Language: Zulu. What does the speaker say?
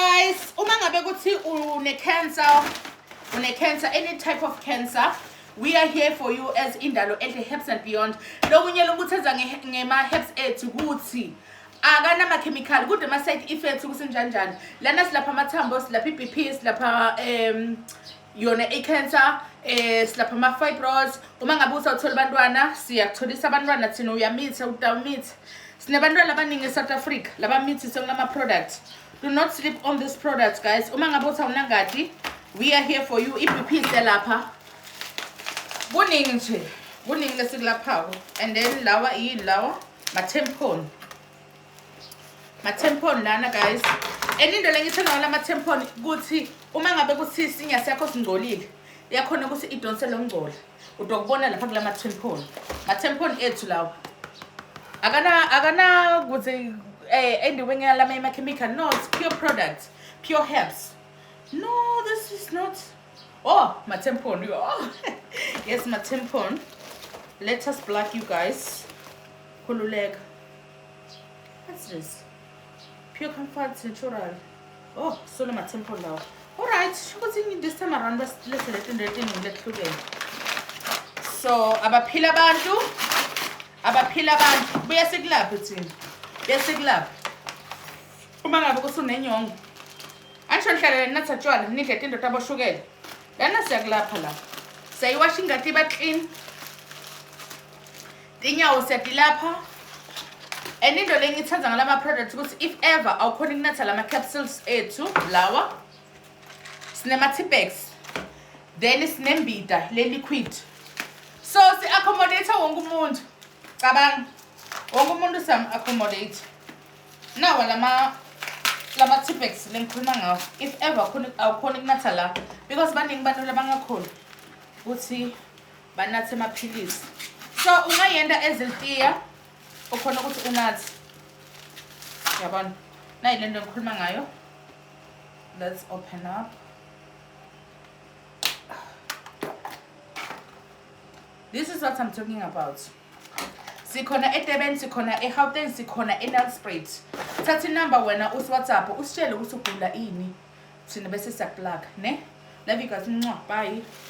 guys uma ngabe kuthi une-cancer une-cancer any type of cancer we are here for you as indalo enhle herbs and beyond lokunye lokutheza ngema-herbs ethu kuthi akanamakhemikhali kude ama-side effects kusenjanjani lana silapha amathambo silapha i-b p silapha um yona i-cancer eh silapha ama-fibroids uma ngabe usawuthola abantwana siyakutholisa abantwana thina uyamithe utawumithe sinabantwana abaningi e-south africa labamithise kulama-product do not sleep on this product guys uma ngabe usawunangadi we are here for you i-bp iselapha kuningi nje kuningi lesikulaphako and then lawa yini lawa ma-tempon ma-tempon lana guys and into lengithanda ngala ma-tempon ukuthi uma ngabe kuthi isinya sakho singcolile yakhona ukuthi idonse lo ngcola utokubona lapha kula ma-tempon ma-tempon ethu lawa akana akana kuthi um eh, endiwe ngalama ema-chemical no it's pure product pure herbs no this is not oh ma-tempon oh. yes ma-tempon let us black you guys khululeka What's this? Pure comfort natural. Oh, so my temple now. All right, shukuthi this time around let's let's let in rating let hlukene. So abaphila abantu abaphila abantu buya sikulaphi thina. Buya sikulaphi. Uma ngabe kusunenyongo. Ansho nihlalele natha tshwala nidle tinto taboshukela. Lana siyakulapha la. Sayiwasha ingati ba clean. inyawo siyadilapha and into le ngithanda ngalama products ukuthi if ever awukhona ukunatha lama capsules ethu lawa sinema tipex then sinembida le liquid so si accommodate wonke umuntu cabanga wonke umuntu sam accommodate nawa lama lama tipex lengikhuluma ngawo if ever khona awukhona ukunatha la because baningi abantu labangakhona ukuthi banathe amaphilisi so ungayenda ezilitiya ukhona ukuthi unathe yabona nayi le nto engikhuluma ngayo let's open up this is what i'm talking about sikhona edurban sikhona egauteng sikhona enelsprit thatha inumber wena usiwhatsapp usitshele ukuthi ugula ini thina bese siyakuplaka ne love you guys ncwa bye